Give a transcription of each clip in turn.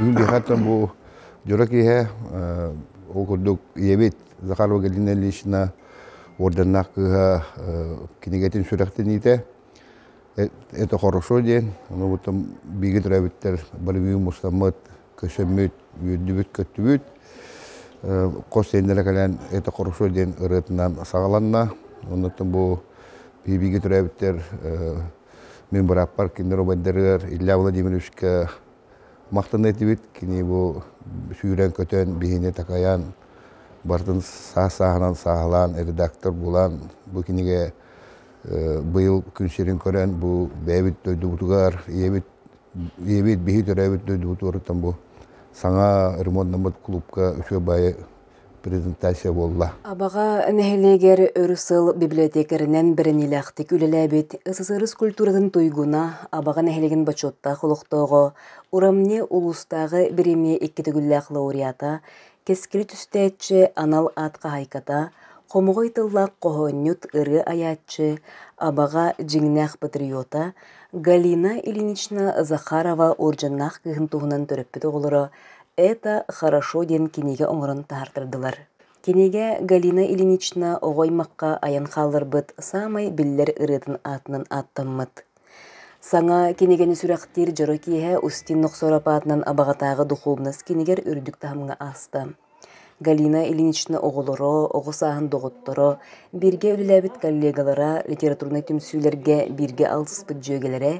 Быһата бу дьоро киһэ ол курдук ийэбит Захар Валентина Ильична орденнаах кыыһа кинигэтин сүрэхтэниитэ это хорошо диэн ону биги төрөбүттэр болевию мустаммыт көсөммүт, үөрдүбүт-көттүбүт. Хос сиэннэрэ кэлэн «Это хорошо» диэн ырыатынан саҕаланна. Оннуттан бу биһиги төрөөбүттэр мин бырааппар кинилэр убайдарыгар Илья Владимировичка махтана этибит. Кини бу сүүрэн-көтөн, биһини такайан, барытын саас-сааһынан сааһылаан, редактор булан, бу кинигэ быйыл күн сирин көрөн, бу бэйэбит дойдубутугар, ийэбит ийэбит биһи төрөөбүт дойдубутуттан бу саҥа ремонтнаммыт клубка үчүгэй баайы презентация буолла. Абаҕа нэһилиэгэр өр сыл библиотекарынан бэриниилээхтик үлэлээбит СССР культуратын туйгуна Абаҕа нэһилигин бочуоттаах олохтооҕо, урамне улуустааҕы бириэмийэ икки төгүллээх лауреата Кэскилэ түстээччи анал аат хаһаайката, хомоҕой тыллаах хоһоонньут, ырыа айааччы, абаҕа дьиҥнээх патриота Галина Ильинична Захарова уордьаннаах кыыһын туһунан төрөппүт оҕолоро «Это хорошо» диэн кинигэ оҥорон таһаартардылар. Кинигэ Галина Ильинична оҕо аймахха айан хаалларбыт саамай биллэр ырыатын аатынан ааттаммыт. Саҥа кинигэни сүрэхтиир дьоро киэһэ Устин Нохсоро аатынан Абаҕатааҕы духуобунас кинигэр үрдүк таһымҥа ааста. Галина Ильинична оҕолоро, оҕо сааһын доҕотторо, бииргэ үлэлээбит коллегалара литературнай түмсүүлэргэ бииргэ алтыспыт дьүөгэлэрэ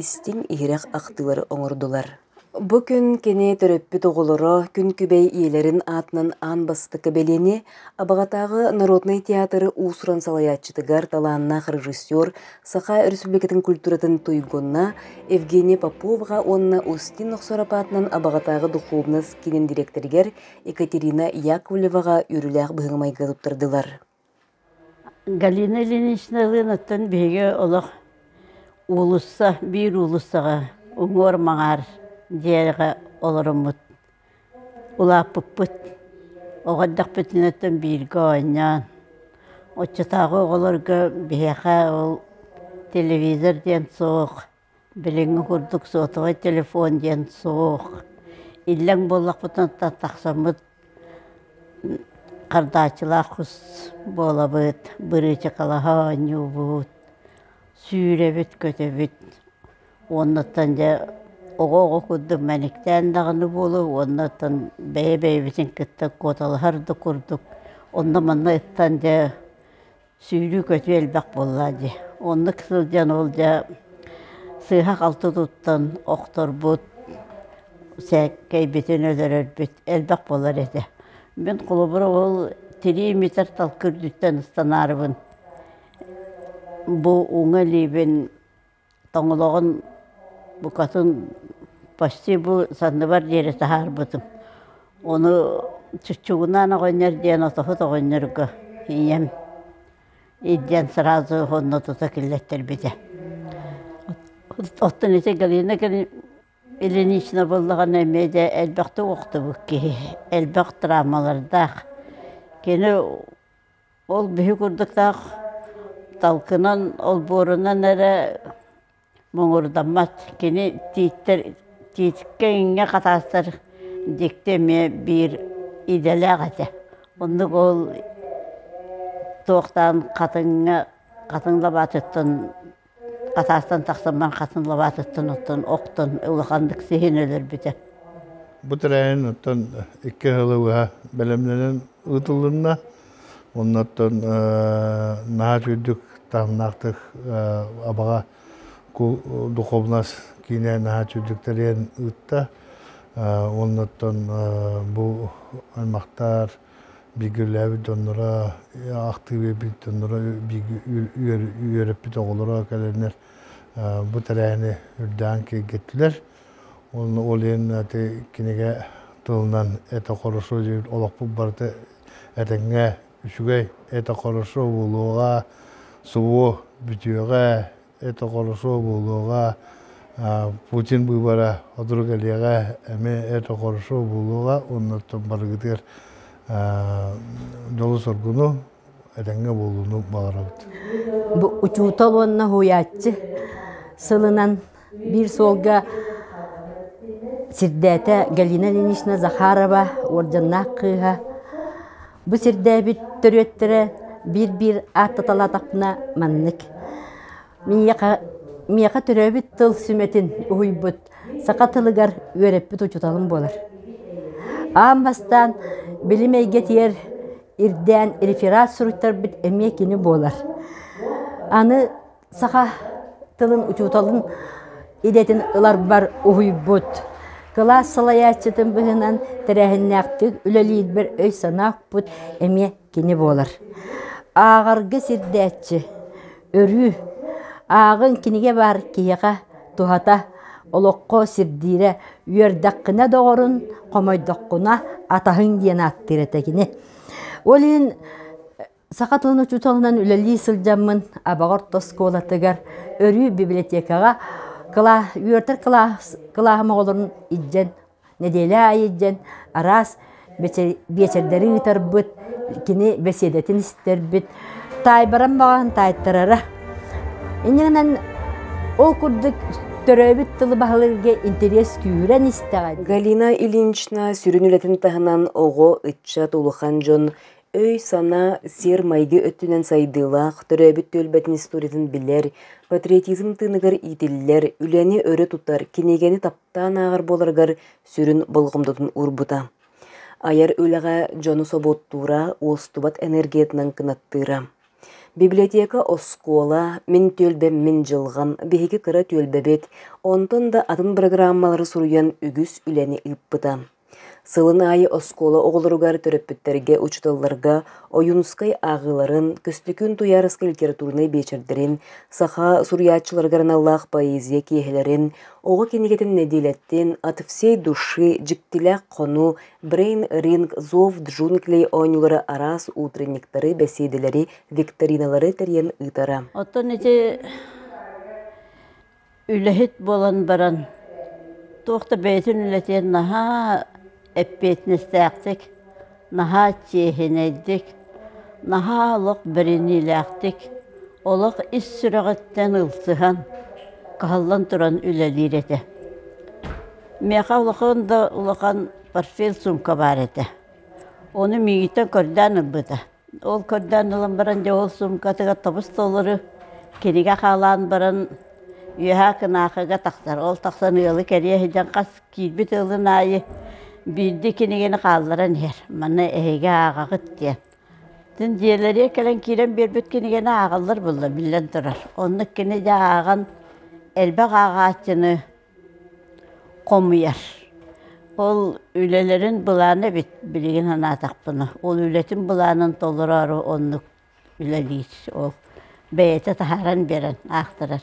истиҥ иһирэх ахтыылары оҥордулар. Бу күн кини төрөппүт оҕолоро Күн Күбэй ийэлэрин аатынан аан бастакы бэлиэни Абаҕатааҕы народнай театр уус-уран салайааччытыгар талааннаах режиссер, Саха Өрөспүүбүлүкэтин культуратын туйгунна Евгения Поповаҕа уонна Устин Охсороп аатынан Абаҕатааҕы духуобунас киинин дириэктэригэр Екатерина Яковлеваҕа үөрүүлээх быһыы майгы туттардылар. Галина Ильинична Ылыновтан биһиги олох уулусса, биир уулуссаҕа уҥуор-маҥаар дьиэҕэ олоруммут, улааппыппыт. Оҕо эрдэхпитинэттэн бииргэ оонньоон, оччотооҕу оҕолорго биһиэхэ ол телевизор диэн суох Билиҥҥи курдук сотовай телефон диэн суох. Иллэҥ буоллахпытына тахсаммыт хардааччылаах кус буолабыт, бырыычыкалаһа оонньуубут, сүүрэбит, көтөбүт. Уонуттан дьэ оҕо оҕо курдук мэниктээн даҕаны буолуо, уонуттан бэйэ бэйэбитин кытта куоталаһар да курдук, онно-манна ыттан дьэ сүүрүү-көтүү элбэх буолла дии. Оннук сылдьан ол дьэ сыыһа-халты туттан охторбут, сээкэйбитин өлөрөрбүт элбэх буолар этэ. Мин холобура ол тирии митэр талкы үрдүттэн ыстанаарыбын бу уҥа илиибин тоҥолоҕун букатын почти бу санныбар диэри таһаарбытым. Ону чуччугунаан оҕонньор диэн отоһут оҕонньорго ийэм илдьэн сразу онно тута киллэттэрбитэ. Оттон ити Галина Ильинична буоллаҕына эмиэ дьэ элбэхтик охтубут киһи, элбэх травмалардаах. Кини Ол биһи курдуктаах талкынан, олбуорунан эрэ муҥурдаммат. Кини тииттэр, тииткэ иҥҥэ хатаастар дьикти эмиэ биир идэлээх этэ. Оннук ол туохтаан хатыҥҥа, хатыҥ лабаатыттан Хатаастан тахсаммар хатан лабаатыттан оттон охтон улаханнык сиһин өлөрбүтэ Бу тэрээһин оттон икки сылы быһа бэлэмнэнэн ыытылынна. Оннуттан наһаа үчүгдүк таһымнаахтык Абаҕа духуобунас киинэ наһаа үчүгдүк тэрийэн ыытта. Оннуттан бу аймахтар бииргэлээбит дьонноро, ахтыы биэрбит дьонноро үөрэппит оҕолоро кэлэннэр бу тэрээһини үрдээн киэргэттилэр. Ол иһин ити кинигэ тылынан «Это хорошо» диир олохпут барыта этэҥҥэ, үчүгэй, «Это хорошо» буолуоҕа, субу бүтүөҕэ это хорошо буолуоҕа Путин быыбара отурук элиэҕэ эми это хорошо буолуоҕа оннуттан барыгытыгар дьолу соргуну этэҥҥэ буолууну баҕарабыт бу учуутал уонна уһуйааччы сылынан биир суолга сирдээтэ Галина Ильинична Захарова уордьаннаах кыыһа Бу сирдээбит төрүөттэрэ биир-биир ааттаталаатахпына маннык. Миэхэ, миэхэ төрөөбүт тыл сүмэтин уһуйбут саха тылыгар үөрэппит учууталым буолар. Аан бастаан билим эйгэтигэр ирдээн реферат суруйтарбыт эмиэ кини буолар. Аны Саха тылын учууталын идэтин ыларбар уһуйбут, кылаас салайааччытын быһынан тэрээһиннээхтик үлэлиирбэр өй-санааппыт эмиэ кини буолар. Ааҕарга сирдээччи, өрүү. Ааҕыҥ кинигэ баар киһиэхэ туһата, олоххо сирдиирэ. Үөрдэххинэ доҕорун, хомойдоххуна атаһыҥ диэн ааттыыр этэ кини. Ол иһин Саха тылын учууталынан үлэлии сылдьаммын Абаҕар оскуолатыгар өрүү библиотекаҕа кылаа үөрэтэр кылаас кылааһым оҕолорун илдьэн нэдиэлэ аайы илдьэн араас биэчэрдэри ыытарбыт, кини бэсиэдэтин истэрбит, таайбаран баҕаһын таайтарара. Иннинэн ол курдук төрөөбүт тылы баһылыырга интэриэс күүрэн истэҕин. Галина Ильинична сүрүн үлэтин таһынан оҕо, ыччат, улахан дьон өй-санаа, сиэр-майгы өттүнэн сайдыылаах, төрөөбүт түөлбэтин историятын билэр, патриотизм тыыныгар иитиллэр, үлэни өрө тутар, кинигэни таптаан ааҕар буоларыгар сүрүн болҕомтотун уурбута. Айар үлэҕэ дьону собуоттуура, уостубат энергиятынан кынаттыыра. Библиотека оскуола, мин түөлбэм мин дьылҕам, биһиги кыра түөлбэбит, онтон да атын программалары суруйан үгүс үлэни ыыппыта. Сылын аайы оскуола оҕолоругар, төрөппүттэргэ, учууталларга Ойуунускай ааҕыыларын, Көстөкүүн Туйаарыска литературнай биэчэрдэрин, саха суруйааччыларыгар аналлаах поэзия киэһэлэрин, оҕо кинигэтин нэдиэлэттэн «От всей души» дьиктилээх хонуу «Брейн ринг зов джунглей» оонньуулара араас утренниктары, бэсиэдэлэри, викториналары тэрийэн ыытара. Оттон ити Үлэһит буолан баран туох да бэйэтин үлэтин наһаа эппиэтинэстээхтик, наһаа чиэһинэйдик, наһаа олох бэриниилээхтик, олох ис сүрэҕиттэн ылсыһан, кыһаллан туран үлэлиир этэ. Миэхэ улахан да улахан портфель сумка баар этэ. Ону миигиттэн көрдөөн ылбыта. Ол көрдөөн ылан баран дьэ ол суумкатыгар тобус-толору кинигэ хаалаан баран үөһээ кынаакыга тахсар. Ол тахсан ыалы кэрийэ сыдьан хас киирбит ыалын аайы биирдии кинигэни хаалларан иһэр. Маны эһиги ааҕаҕыт диэн. Дьин дьиэлэригэр кэлэн киирэн биэрбит кинигэни ааҕаллар буоллар биллэн турар. Оннук кини дьэ ааҕан элбэх ааҕааччыны хомуйар. Ол үлэлэрин былаана эбит билигин санаатахпына. Ол үлэтин былаанын толороору оннук үлэлиир. Ол бэйэтэ таһааран биэрэн аахтарар.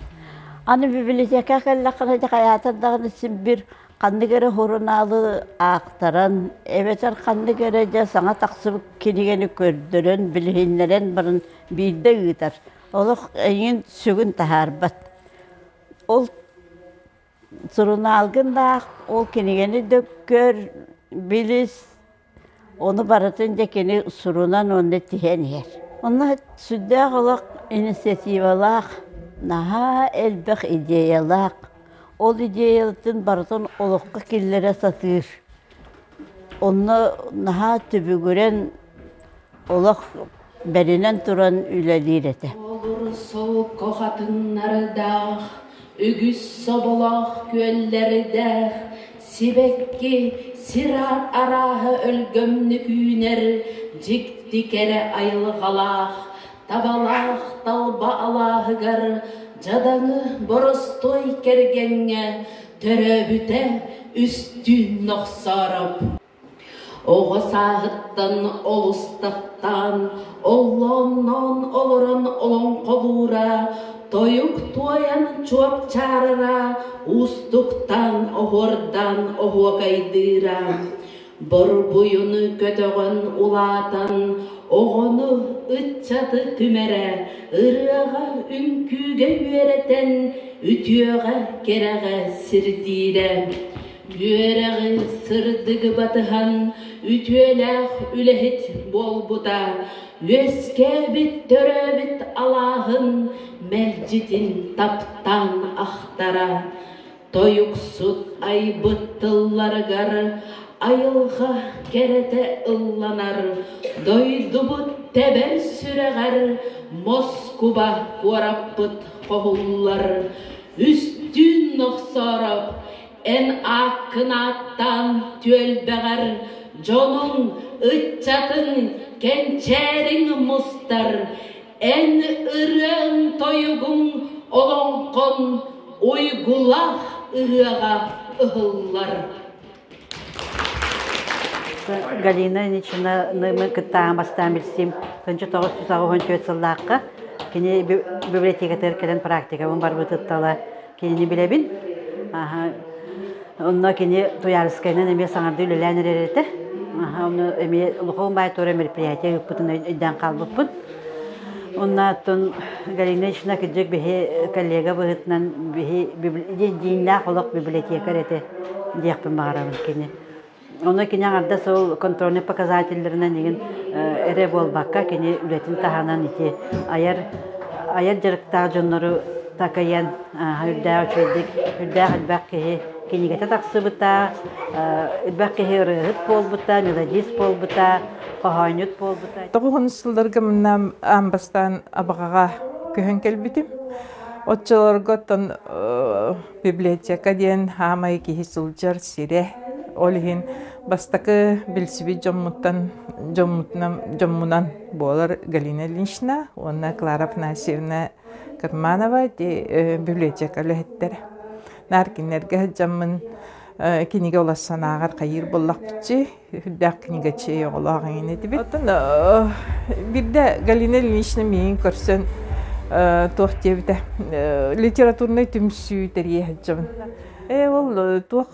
Аны бибилитиэкэ кэллэххинэ ити хайаатар даҕаны син бир ханнык эрэ сурунаалы аахтаран эбэтэр ханнык эрэ дьэ саҥа тахсыбыт кинигэни көрдөрөн билиһиннэрэн баран биирдэ ыытар. Олох эйиин сүгүн таһаарбат. Ол сурунаалгын аах, ол кинигэни да көр, билис, ону барытын дьэ кини сурунан уонна тиһэн иһэр. Онно сүрдээх олох инициативалаах, наһаа элбэх идеялаах, ол идеяларын барытын олоххо киллэрэ сатыыр. Онно наһаа түбүгүрэн олох бэринэн туран үлэлиир этэ Олор солко хатыннардаах, үгүс соболоох күөллэрдээх, сибэкки, сир арааһа өлгөмнүк үүнэр, дьикти кэрэ айылҕалаах, табалаах талба алааһыгар дьадаҥы боростуой кэргэҥҥэ Төрөөбүтэ үстүүн нохсоороп Оҕо сааһыттан олустахтаан оллоонноон олорон олоҥхолуура, тойук туойан чуопчаарара, уустуктаан оһуордаан оһуокайдыыра. Борбуйуну көтөҕөн улаатан оҕону, ыччаты түмэрэ, ырыаҕа, үҥкүүгэ үөрэтэн үтүөҕэ, кэрэҕэ сирдиирэ. Үөрэҕи сырдыгы батыһан үтүөлээх үлэһит буолбута үөскээбит төрөөбүт алааһын мэлдьитин таптаан ахтара. Тойуксут айбыт тылларыгар айылҕа кэрэтэ ылланар, дойдубут тэбэр сүрэҕэр Москуба куораппыт хоһуллар, үстүүн нохсоороп эн ааккын ааттаан түөлбэҕэр дьонуҥ, ыччатын кэнчээриҥ мустар, Эн ырыаҥ тойугуҥ олоҥхон уйгулах ырыаҕа ыһыллар. Галина Ильинична кыттааҕын бастаан билсим тынчы тоҕус сүүс аҕыс сыллаахха кини библиотекатыгар кэлэн практикабын барбытыттала Кэнди билэбин. Онно кини Туйаарыскайынан эмиэ саҥарды үлэлээн эрэр этэ. Ону эмиэ Луховун баайтуора мероприятие ыыппытын өйдөөн хаалбыппын. Оннооттон Галина Ична кырдьык биһи коллега быһыытынан биһи дииннээх олох библиотекарь этэ диэхпин баҕарабын кини. Ону кини аҥардас ол контрольнай показателлэринэн игин эрэ буолбакка, кини үлэтин таһынан ити айар айар дьарыктаах дьоннору такайан үрдээх үчүгэйдик, үрдээх элбэх киһи кинигэтэ тахсыбыта, элбэх киһи ырыаһыт буолбута, мелодист буолбута, хоһоонньут буолбута. Тоҕуһун сылларга мынам бастаан абаҕаҕа көһөн кэлбитим. Оччолорго оттон Библиотека диэн аамай киһи сылдьар сирэ. Ол иһин бастакы билсибит дьоммуттан дьоммутунан дьоммунан буолар Галина Ильинична уонна Клара Афанасьевна Карманова библиотека үлэһиттэрэ. Наркиннерге сылдьаммын кинигэ олус санааҕар хайыыр боллахпытчы үрдээх кинигачи оҕолоох эҥин этибит. Оттон бирдэ Галина Ильинична миин көрсөн туох диэбитэ литературнай түмсүү тэрийэһэччэбин. Ээ ол туох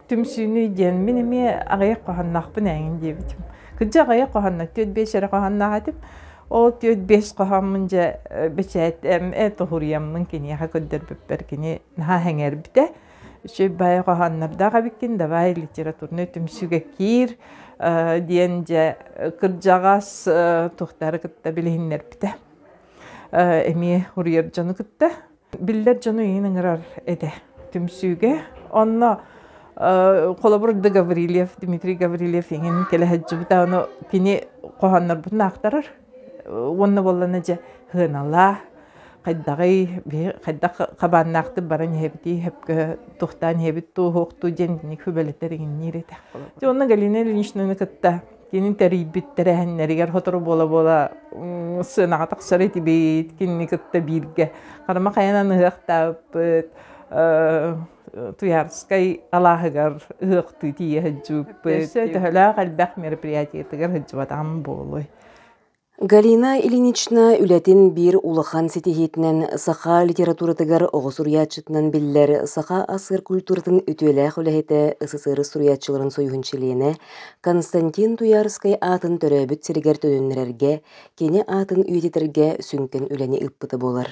түмсүүнүй диэн мин эмиэ аҕыйах хоһоонноохпун эҥин диэбитим. Кырдьа аҕыйах хоһоонно түөрт биэс эрэ хоһоонноох этим. Ол түөрт биэс хоһооммун дьэ бэчээтээм ээ тоһуруйаммын киниэхэ көрдөрбүппэр кини наһаа сэҥээрбитэ. Үчүй бай хоһооннордоох эбиккин, давай литературный түмсүүгэ киир, э, диэн дьэ кырдьаҕас э, тухтары кытта билиһиннэрбитэ. Э, эмиэ уруйар дьону кытта. Биллэр дьону иин ыҥырар этэ түмсүүгэ. Онно холобур да Гаврильев, Дмитрий Гаврильев иҥин кэлэһэджжыбыта, ону кини хоһооннорбутун аахтарар. уонна буоллана дьэ сыаналаа хайдаҕый биһи хайдах хабааннаахтык баран иһэбитий сөпкө туохтаан иһэбит туоһуохтуу диэн итинник сүбэлэтэр иҥниир этэх дьэ онно Галина Ильиничнаны кытта кинин тэрийбит тэрээһиннэригэр сотору буола-буола сыанаҕа тахсар этибит кинини кытта бииргэ харама хайанан ыһыахтаабыт Туйаарскай алааһыгар ыһыахтыы тиийэ сылдьыбыппыт. Төһөлөөх элбэх мероприятиетыгар сылдьыбатаҕым буолуой? Галина Ильинична үлэтин биир улахан ситиһиитинэн саха литературатыгар оҕо суруйааччытынан биллэр саха ас-ыар культуратын үтүөлээх үлэһитэ СССР суруйааччыларын союһун чилиэнэ Константин Туйаарскай аатын төрөөбүт сиригэр төнүннэрэргэ, кини аатын үйэтитэргэ сүҥкэн үлэни ыыппыта буолар.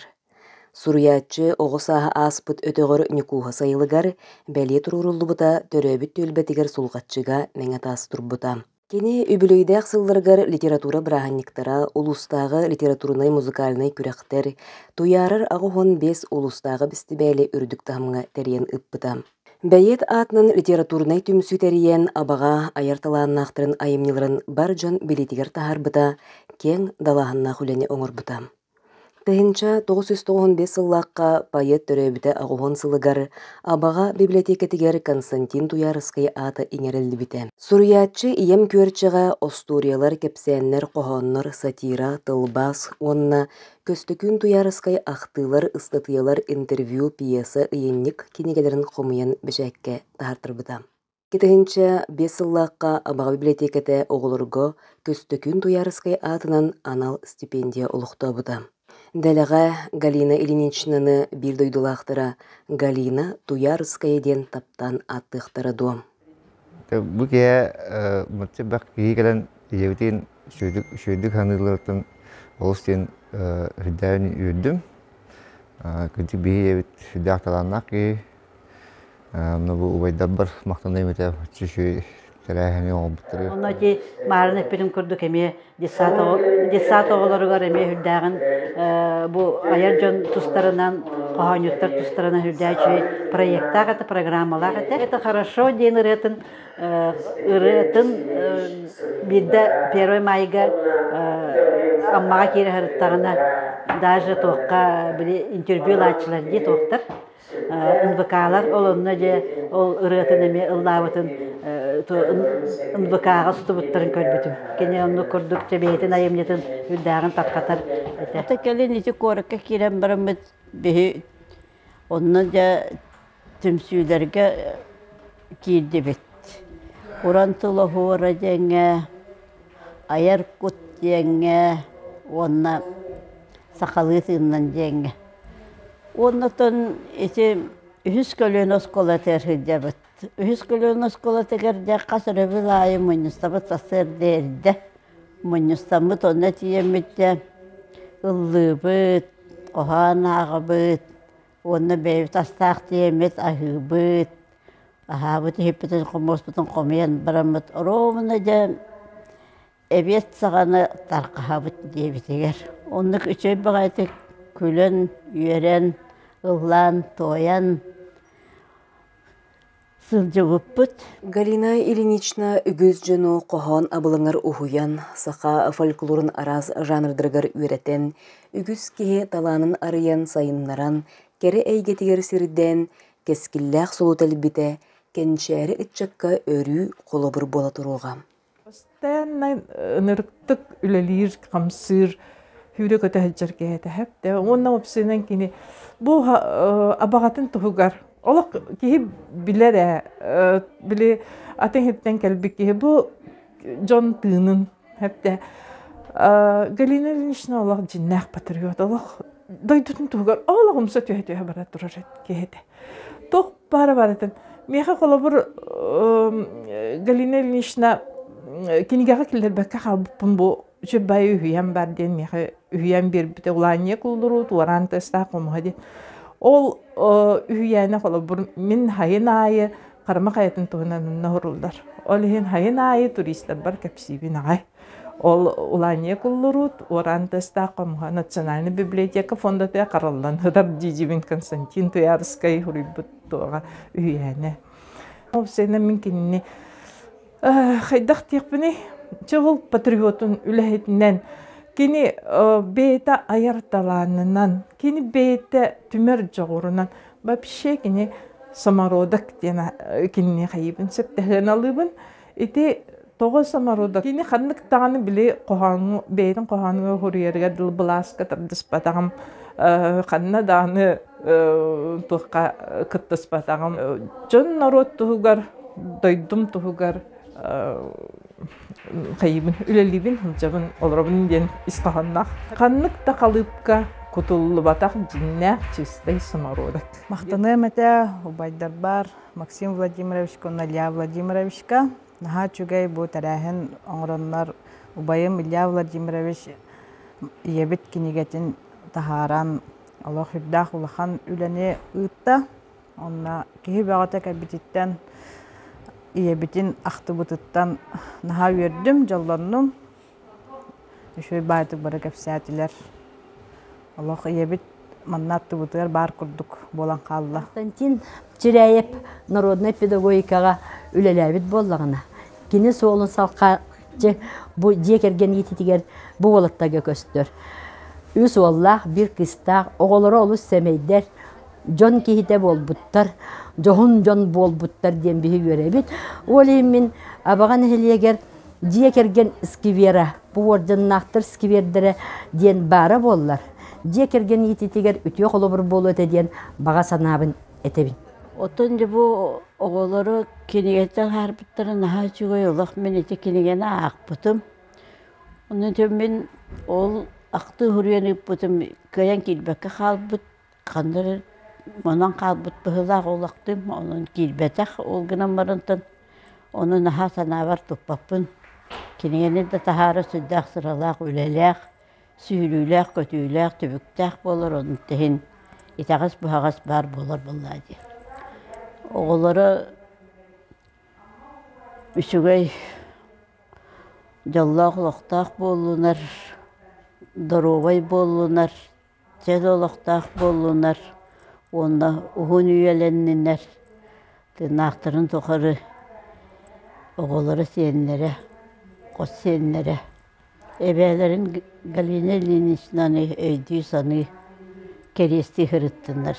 Суруйааччы оҕо сааһы ааспыт өтөҕөр Ньукууһа сайылыгар бэлиэ туруоруллубута төрөөбүт түөлбэтигэр Сулҕаччыга мэҥэ таас турбута. Кини үбүлүөйдээх сылларыгар литература бырааһынньыктара, улуустааҕы литературнай-музыкальнай күрэхтэр, Туйаарар аҕа уһун биэс улуустааҕы бэстибээли үрдүк таһымҥа тэрийэн ыппыта. Бэйиэт аатынан литературнай түмсүү тэрийэн, абаҕа айар талааннаахтарын айымньыларын бар дьон билиитигэр таһаарбыта, киэҥ далааһыннаах үлэни оҥорбута. Тыһыынча тоҕус сүүс тоҕоһун биэс сыллаахха поэт төрөөбүтэ аҕыһын сылыгар Абаҕа бибилэтиэкэтигэр Константин Туйаарыскай аата иҥэриллибитэ. Суруйааччы ийэм Күөрчэҕэ остуоруйалар, кэпсээннэр, хоһооннор, сатира, тылбаас уонна Көстөкүүн Туйаарыскай ахтыылар, ыстатыйалар, интервью, пьеса, ыйынньык кинигэлэрин хомуйан бэчээккэ таһаартарбыта. Кэтэһинчэ биэс сыллаахха Абаҕа бибилэтиэкэтэ оҕолорго Көстөкүүн Туйаарыскай аатынан анал стипендия олохтообута. Дэлэҕэ Галина Ильиничнаны биир дойдулаахтара Галина Туйаарыская диэн таптаан ааттыахтара дуо? Бу киһи бэрт киһи кэлэн ийэбитин үчүгдүк үчүгдүк саныылларыттан олус диэн үрдээн үөрдүм. Кырдьык биһи ийэбит сүрдээх талааннаах киһи Ну, бу убайдарбар махтаныам этэ үчүгэй тэрээһини оҥорбуттары. Онно ити маарына эппитин курдук эмиэ детсад детсад оҕолоругар эмиэ үрдээҕин бу айар дьон тустарынан хоһоонньуттар тустарынан үрдээк үчүгэй проектаах этэ программалаах этэ. Это хорошо диэн ырыатын ырыатын биирдэ первый майга Аммаҕа киирэ сырыттаҕына даже туохха били интервью ылааччылар дии туохтар НВК-лар ол онно дьэ ол ырыатын эмиэ ыллаабытын НВК-ҕа сутубуттарын көрбүтүм. Кини оннук курдук дьэ бэйэтин айымньытын үрдээҕин тарҕатар этэ. Ата кэлин ити куоракка киирэн бараммыт биһи онно дьэ түмсүүлэргэ киирдибит. Уран тыл оһуора диэҥҥэ, айар кут диэҥҥэ уонна сахалыы тыыннан диэҥҥэ. Уоннатан ити үһүс көлүөнэ оскуолатыгар сылдьабыт. Үһүс көлүөнэ оскуолатыгар дьэ хас эрэ бил аайы мунньустабыт сарсыарда эрдэ мунньустаммыт, онно тиийэммитэ ыллыыбыт, хоһоон ааҕабыт уонна бэйэбит астаах тиэмэбит аһыыбыт, аһаабыт иһиппитин хомуспутун хомуйан бараммыт. Оруобуна дьэ эбиэт саҕана тархаһабыт диэбитигэр оннук үчүгэй баҕайытык күлэн үөрэн ыллаан туойан сылдьыбыппыт Галина Ильинична үгүс дьону хоһоон абылаҥар уһуйан саха фольклорун араас жанрдарыгар үөрэтэн үгүс киһи талаанын арыйан сайыннаран кэрэ эйгэтигэр сирдээн кэскиллээх солу тэлбитэ кэнчээри ыччакка өрүү холобур буола туруоҕа Постояннай ынырыктык үлэлиир, хамсыыр, сүүрэ-көтө сылдьар киһи этэ сөптөөх. Уонна уопсайынан кини бу абаҕатын туһугар олох киһи билэр ээ, били атын иһиттэн кэлбит киһи бу дьон тыынын сөптөөх. Галина Ильинична олох дьиннээх патриот, олох дойдутун туһугар олох умса түһэ-түһэ бара турар киһи этэ. Туох баара барытын. Миэхэ холобур Галина Ильинична кинигэҕэ киллэрбэккэ хаалбыппын бу үчүрбай үһүйэм бар диэн миэхэ үһүйэн биэрбитэ улаанньык уллуруу туораан тастаах хомуһа диэн. Ол үһүйээнэ холобур мин хайын аайы Харама хайатын туһунан онно оһоруллар. Ол иһин хайын аайы туристарбар кэпсиибин аҕай. Ол улаанньыйа куллуруут уораан тыастаах хомуһа национальный библиотека фондатыа хараллан ытар дьидьибин Константин Туярскай уруйбут туоҕа үһүйээнэ. Ол сенен мин кинини хайдах диэхпиний чыгыл патриотун үлэһитинен кини бэйэтэ айар талаанынан кини бэйэтэ түмэр дьоҕурунан вообще кини самородок диэн кинини хайыбын сөптөһүөн алыыбын Ити тоҕо самородок кини ханнык даҕаны били хоһоону бэйэтин хоһоонугар хуруйарыгар дыл былааска тардыспатаҕым ханна даҕаны туохха кыттыспатаҕым дьон норуот туһугар дойдум туһугар хайыбын үлэлиибин сылдьабын олоробун диэн ис хоһоонноох ханнык да халыыпка кутуллубатах дьиннээх чистай самородок махтаныам этэ убайдарбар Максим Владимировичка, Илья Владимировичка. Наһаа үчүгэй бу тэрээһин оҥороннор убайым Илья Владимирович ийэбит кинигэтин таһааран олох үрдээх улахан үлэни ыытта. Онно киһи бөҕөтө кэлбититтэн ийэбитин ахтыбытыттан наһаа үөрдүм, дьоллоннум. Үчүгэй баайдык бары кэпсээтилэр. Олох ийэбит манна аттыбытыгар баар курдук буолан хаалла. Константин Чиряев народнай педагогикаҕа үлэлээбит буоллаҕына, кини суолун салҕааччы бу дьиэ кэргэн иититигэр бу уолаттарга көстөр. Үс уоллаах, биир кыыстаах, оҕолоро олус сэмэйдэр, дьон киһитэ буолбуттар, дьоһун дьон буолбуттар диэн биһи үөрэбит. Ол иһин мин Абаҕа нэһилиэгэр дьиэ кэргэн сквера, повардьыннаахтар сквердэрэ диэн баара буоллар, дьиэ кэргэн иититигэр үтүө холобур буолуо этэ диэн баҕа санаабын этэбин. Оттон дьэ бу оҕолору кинигэтэ аһаарбыттара наһаа үчүгэй олох мин ити кинигэни аахпытым. Онон мин ол ахтыы уһуруйан ыыппытым кыайан киирбэккэ хаалбыт ханна эрэ онон хаалбыт быһыылаах уолахтыым онон киирбэтэх ол гынан барантан ону наһаа санаабар туппаппын кинигэни да таһаара сүрдээх сыралаах үлэлээх сүһүрүүлээх көтүүлээх түбүктээх буолар онтута иһин итэҕэс буһаҕас баар буолар буоллаа дии оҕолоро үчүгэй дьоллоох олохтоох буоллунар доруобай буоллунар чөл олохтоох буоллунар уонна уһун үйэлэннинэр тыыннаахтарын тухары оҕолоро сиэннэрэ хос сиэннэрэ эбээлэрин галина ильиничнаны өйдүү саныы кэриэстии сырыттыннар